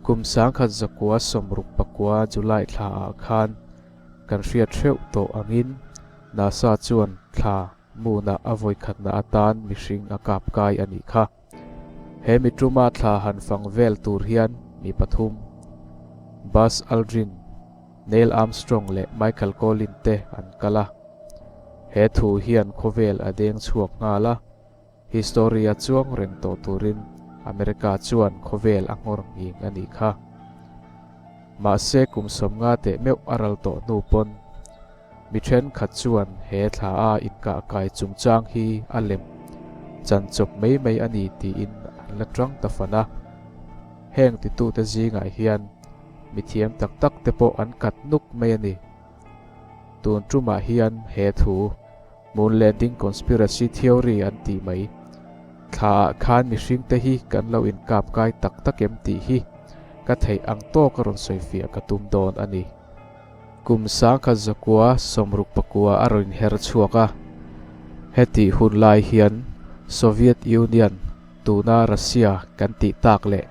Kum sangkhat zakua sawm ruk pakua July thla ah khan kan hriat hreuh tawh angin NASA chuan thla munah a vawikhatna atan mihring a kap kai a nih kha. He mi tuma thla han fang vel tur hian mi pathum, Buzz Aldrin, Neil Armstrong leh Michael Collin te an kal a. He thu hian khawvel a deng chhuak nghal a. History a chuang reng tawh turin America chuan khawvel a nghawr nghing a nih kha. Mahse kum sawmnga teh meuh a ral tawh hnu pawn mi thenkhat chuan he thla a inkah kai chungchang hi a lem chan chawp mai mai a ni tiin an la tang ta fan a. Heng titute zingah hian mithiam tak tak te pawh an kat nuk mai a ni. Tun tumah hian he thu Moon landing conspiracy theory an tih mai. Thla ah khan mihring te hi kan lo in kap kai tak tak em tih hi ka theih ang tawk a rawn sawi fiah ka tum dawn a ni. Kum sangkhat zakua sawmruk pakua a rawn in her chhuak a. Heti hun lai hian Soviet Union, tuna Russia kan tih tak leh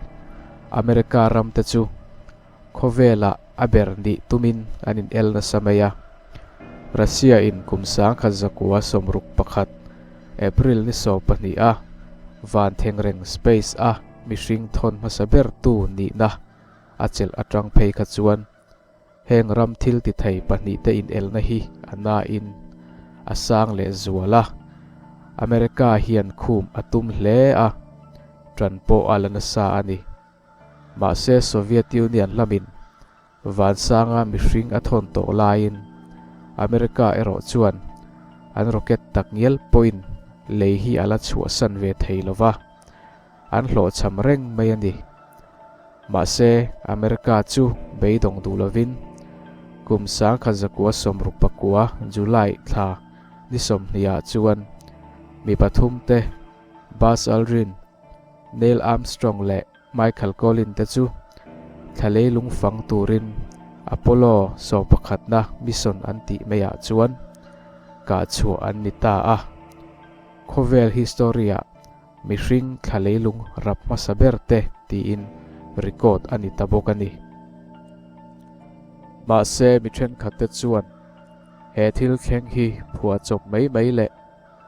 America ram te chu khawvela a ber nih tumin an in el nasa mai a. Russia in kum sangkhat zakua sawmruk pakhat, April ni sawm pahnih a, vanteng reng space a mihring thawn hmasa ber tu nihna a chelh atang phei kha chuan heng ram thil ti thei pahnih te in elna hi a na in a sang leh zual a, America hian khum a tum hle a, tan pawh a la nasa a ni. Mahse Soviet Union hlamin vansanga mihring a thawn tawh laiin America erawh chuan an rocket tak ngial pawhin lei hi a la chhuahsan ve thei lo va, an hlawhchham reng mai a ni. Mahse America chu beidawng duh lovin kum sangkhat zakua sawmruk pakua, July thla ni sawmhnih ah chuan mi pathum te Buzz Aldrin, Neil Armstrong leh Michael Collin te chu thla lei lungfang turin Apollo sawm pakhatna mission an tih mai ah chuan kah chhuah an ni ta a. Khawvel history ah mihring thla lei lung rap hmasa ber te tiin record a ni ta bawk a ni. Mahse mi thenkhat te chuan he thil thleng hi phua chawp mai mai leh.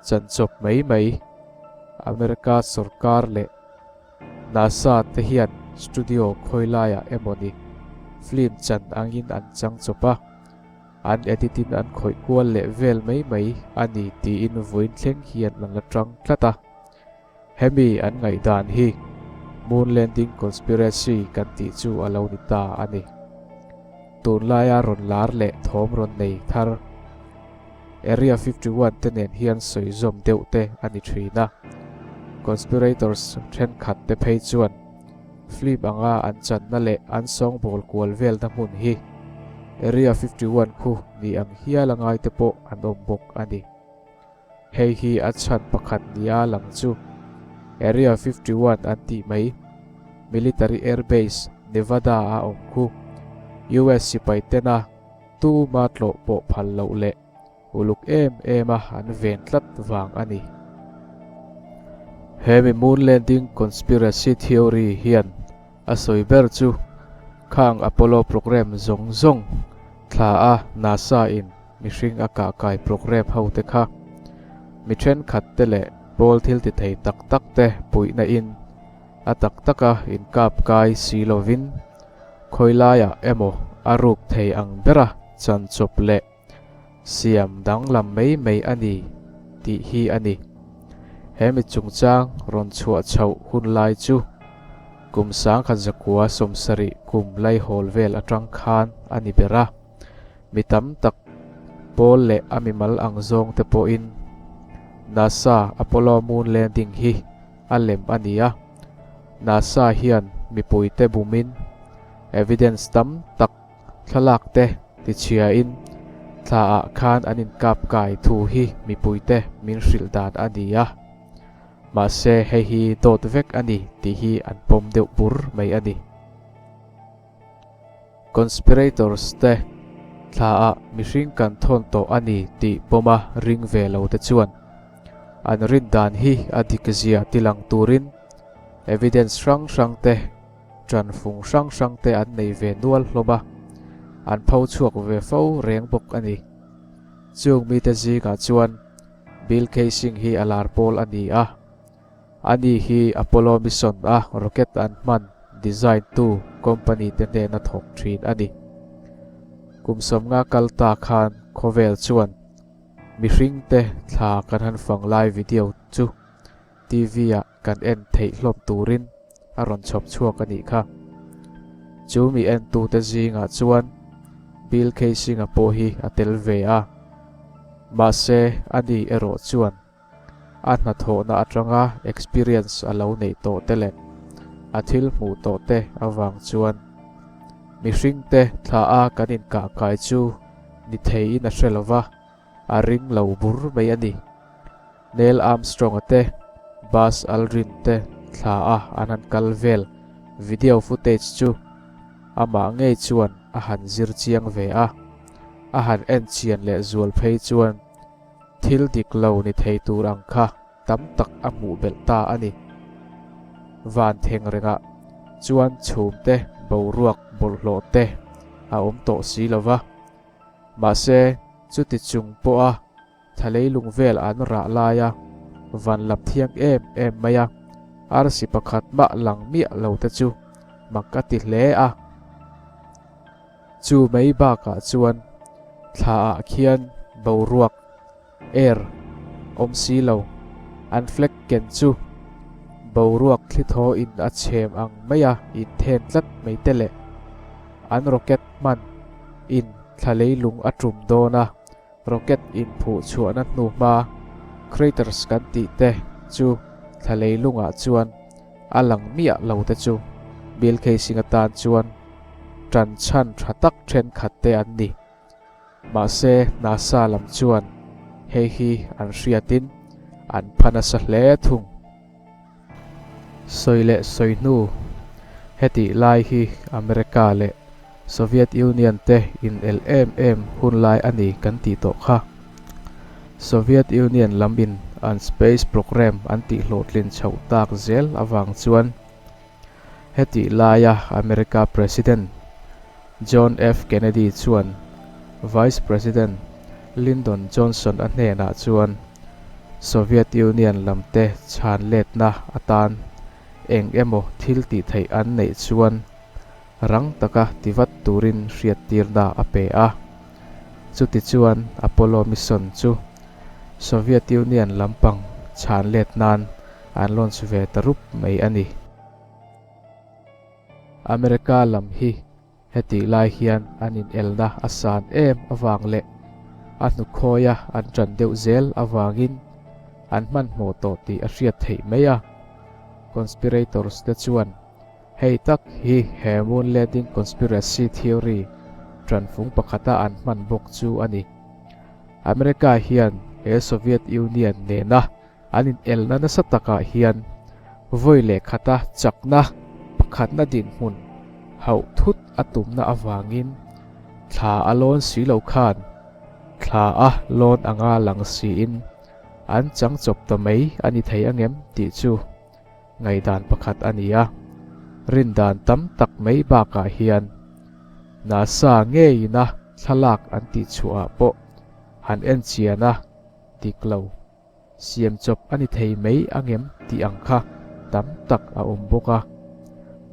Chan chawp mai mai. America sorkar leh NASA te hian studio khawi laiah emawni film chan angin an chang chawp a, an edit in an khawih kual leh vel mai mai a ni tiin vuin thleng hian an la tang tlat a. Hemi an ngaihdan hi Moon Landing Conspiracy kan tih chu a lo ni ta a ni. Tunlaia rawn lar leh thawm rawn nei thar Area fifty one te nen hian sawizawm deuh te a ni thin a. Conspirators thenkhat te phei chuan flip anga an channa leh an sawngbawl kual velna hmun hi Area fifty one khu ni ang hial a ngai te pawh an awm bawk a ni. Hei hi a chhan pakhat nia lang chu Area fifty one an tih mai, Military Air Base Nevada a awm khu, US sipai tena tuma tlawh pawh phal loh leh uluk em em a an ven tlat vang a ni. Hemi Moon Landing Conspiracy Theory hian a sawi ber chu khang Apollo Programme zawng zawng thla a NASA-in Mihring a kahkai pruk rep ho te kha mi thenkhat te leh Paul thil ti thei tak tak te puihna in a tak tak a in kap kai si lo vin khawi lai ah emaw a ruk thei ang ber a chan chawp leh siam danglam mai mai a ni tih hi a ni. He mi chungchang rawn chhuah chhoh hun lai chu kum sangkhat zakua sawmsarih kum laihawl vel atang khan a ni ber a. mi tam tak Paul leh a mimal ang zawng te pawhin Nasa Apollo Moon Landing hi a lem a ni a, Nasa hian mipui te bumin evidence tam tak thlalak te tichhia in thla ah khan an in kap kai thu hi mipui te min hrilh dan a ni a, mahse hei hi dawt vek a ni tih hi an pawm deuh bur mai a ni. Conspirators te thla a mihring kan thawn tawh a ni tih pawma ring ve lo te chuan an rin dan hi a dik zia ti lang turin evidence hrang hrang te, tanfung hrang hrang te an nei ve nual hlawm a, an pho chhuak ve fo reng bawk a ni. Chung mite zingah chuan Bill Kaysing hi a lar pawl a ni a. Ani hi Apollo Mission a rocket an hman design tu company te hnena thawk thin a ni. Kum sawmnga kal ta khan khawvel chuan mihring te thla kan han fang lai video chu TV ah kan en theih hlawp turin a rawn chhawp chhuak a nih kha. Chu mi en tu te zingah chuan Bill Kaysing-a pawh hi a tel ve a, mahse ani erawh chuan A hnathawhna atanga experience a lo neih tawh te leh a thil hmuh tawh te avang chuan mihringte thla a kan inkah kai chu ni theihin a hre lova, a ring lo bur mai a ni. Neil Armstrong-a te Buzz Aldrin te thla a an han kal vel video footage chu amah ngei chuan a han zir chiang ve a, a han enchian leh zual phei chuan, Thil dik lo ni thei tur ang kha tam tak a hmuh belh ta a ni. Vantheng rengah chuan chhum te, boruak, bawlhhlawh te a awm tawh si lo va. Mahse, chuti chung pawha thaleilung vel an rah lai a, van lam thiang em em mai a, arsi pakhat mah lang miah lo te chu mang ka ti hle a. Chu mai bakah chuan thla ah khian boruak er awm si lo, an flag ken chu boruak thlithaw in a chhem ang mai a, inthen tlat mai te leh an rocket hman in thla leilung a tum dawn a. Rocket inphuh chhuahna hnu hma, craters kan tih te, chu thla leilungah chuan a lang miah lo te chu Bill Kaysing atan chuan tan chhan tha tak thenkhat te an ni. Mahse NASA lam chuan hei hi an hriatin an pha nasa hle thung. Sawi leh sawi hnu, hetih lai hi America leh Soviet Union te in el em em hun lai a ni kan tih tawh kha. Soviet Union lam in an space program an tih hlawhtlin chhoh tak zel avang chuan hetih laia America President John F. Kennedy chuan Vice President Lyndon Johnson a hnenah chuan Soviet Union lam te chhan letna atan eng emaw thil tih theih an neih chuan rang taka ti vat turin hriattirna a pe a. Chuti chuan Apollo Mission chu Soviet Union lampang chhan let nan an launch ve ta rup mai a ni. America lam hi hetih lai hian an inelna a san em avang leh a hnukhawi a an ṭan deuh zel avangin an hmanhmawh tawh tih a hriat theih mai a. Conspirators te chuan hei tak hi he moon landing conspiracy theory ṭanfung pakhata an hman bawk chu a ni. America hian he Soviet Union nena An inelna nasa takah hian vawi leh khata chakna pakhatna dinhmun hauh thut a tumna avangin thla a lawn si lo khan thla a lawn anga lang siin an chang chawp ta mai a ni thei angem tih chu ngaihdan pakhat a ni a. Rindan tam tak mai bakah hian nasa ngeiin a thlalak an tihchhuahah pawh han enchian a dik lo. siam chawp a ni thei mai angem tih ang kha tam tak a awm bawk a,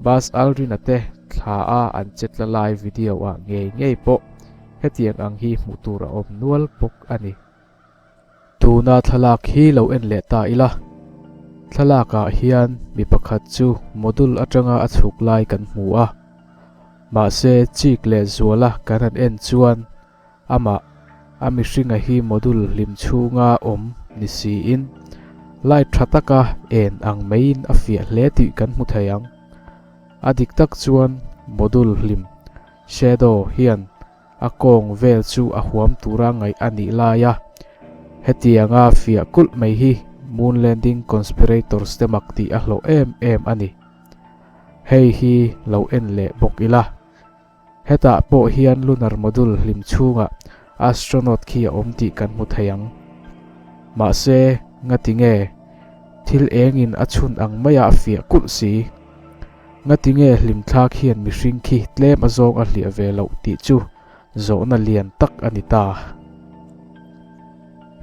Bus Aldrin-a te thla a an che tla lai video-ah ngei ngei pawh hetiang ang hi hmuh tur a awm nual bawk a ni. Tuna thlalak hi lo en leh ta ila, thlalakah hian mi pakhat chu model atanga a chhuk lai kan hmu a, mahse chik leh zuala kan han en chuan, Amah a mihringa hi module hlim chhunga awm ni siin, light tha taka en ang meiin a fiah hle tih kan hmu thei ang. A dik tak chuan module hlim, shadow, hian a kawng vel chu a huam tura ngaih a nih lai a, hetianga fiah kulh mai hi moon landing conspirators te mak tih a hlawh em em a ni. Hei hi lo en leh bawk ila. Hetah pawh hian lunar module hlim chhungah astronaut khi a awm tih kan hmu thei ang. Mahse, ngatinge thil engin a chhun ang maia fiah kulh si? Ngatinge hlimthlak hian mihring khi tlem a zawng a hliah ve loh tih chu zawhna lian tak a ni ta.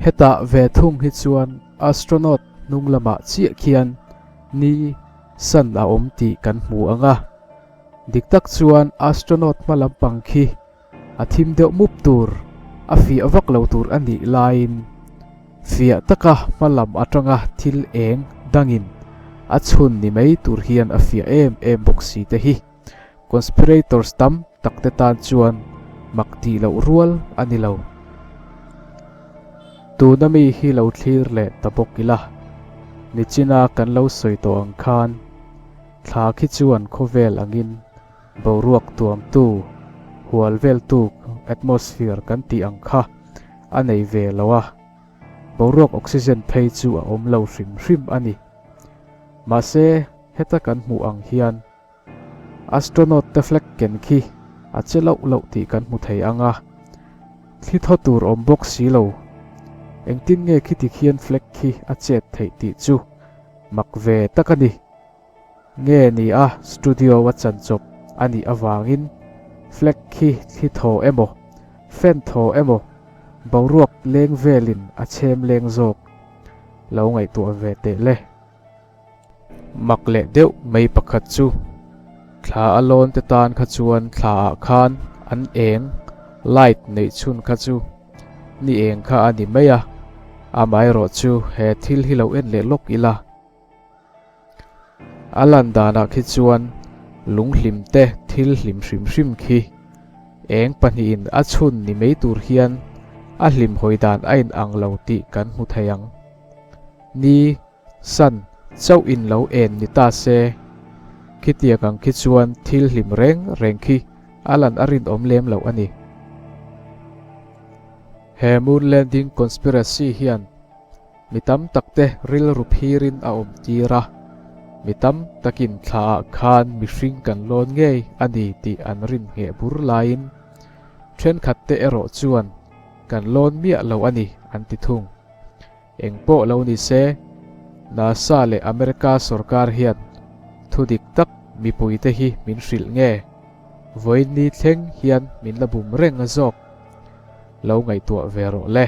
Hetah ve thung hi chuan astronaut hnung lamah chiah khian ni, sun, a awm tih kan hmu ang a. Dik tak chuan astronaut hma lampang khi a thim deuh mup tur a fiah vak lo tur a nih laiin fiah taka hma lam atanga thil eng dangin a chhun ni mai tur hian a fiah em em bawk si te hi conspirators tam tak te tan chuan mak tih loh rual a ni lo. Tuna mi hi lo thlir leh ta bawk ila nichina kan lo sawi tawh ang khan. Thla khi chuan khawvel angin boruak tuamtu, hual vel tuk, atmosphere kan tih ang kha a nei ve lo a, boruak oxygen phei chu a awm lo hrim hrim a ni. Mahse, heta kan hmuh ang hian astronaut te flek ken khi a che loh loh tih kan hmu thei ang a, thli thaw tur awm bawk si lo. Engtin nge khiti khian flek khi a chet theih tih chu mak ve tak a ni. Nge ni a studio-a chanchawp a nih avangin flag khi thli thaw emaw, fan thaw emaw boruak leng velin a chhem leng zawk lo ngaihtuah ve teh le. Mak leh deuh mai pakhat chu, thla a lawnte tan kha chuan thlaah khan an eng light neih chhun kha chu ni eng kha a ni mai a, amaherawhchu he thil hi lo en leh lawk ila. A lan danah khi chuan lunghlim te thil hlim hrim hrim khi eng pahnihin a chhun ni mai tur hian a hlim hawi dan a in ang lo tih kan hmu thei ang. Ni san chauh in lo en ni ta se, khitiak ang khi chuan thil hlim reng reng khi a lan a rinawm lem lo a ni. He moon landing conspiracy hian Mi tam tak te rilru phir in a awm tir a, mi tam tak in thla ah khan mihring kan lawn ngei a ni tih an rin ngheh bur lai in thenkhat te erawh chuan kan lawn miah lo a ni an ti thung. Eng pawh lo ni se, NASA leh America sorkar hian thu dik tak mipui te hi min hrilh nge vawiin ni thleng hian min la bum reng zawk lo ngaihtuah ve rawh le.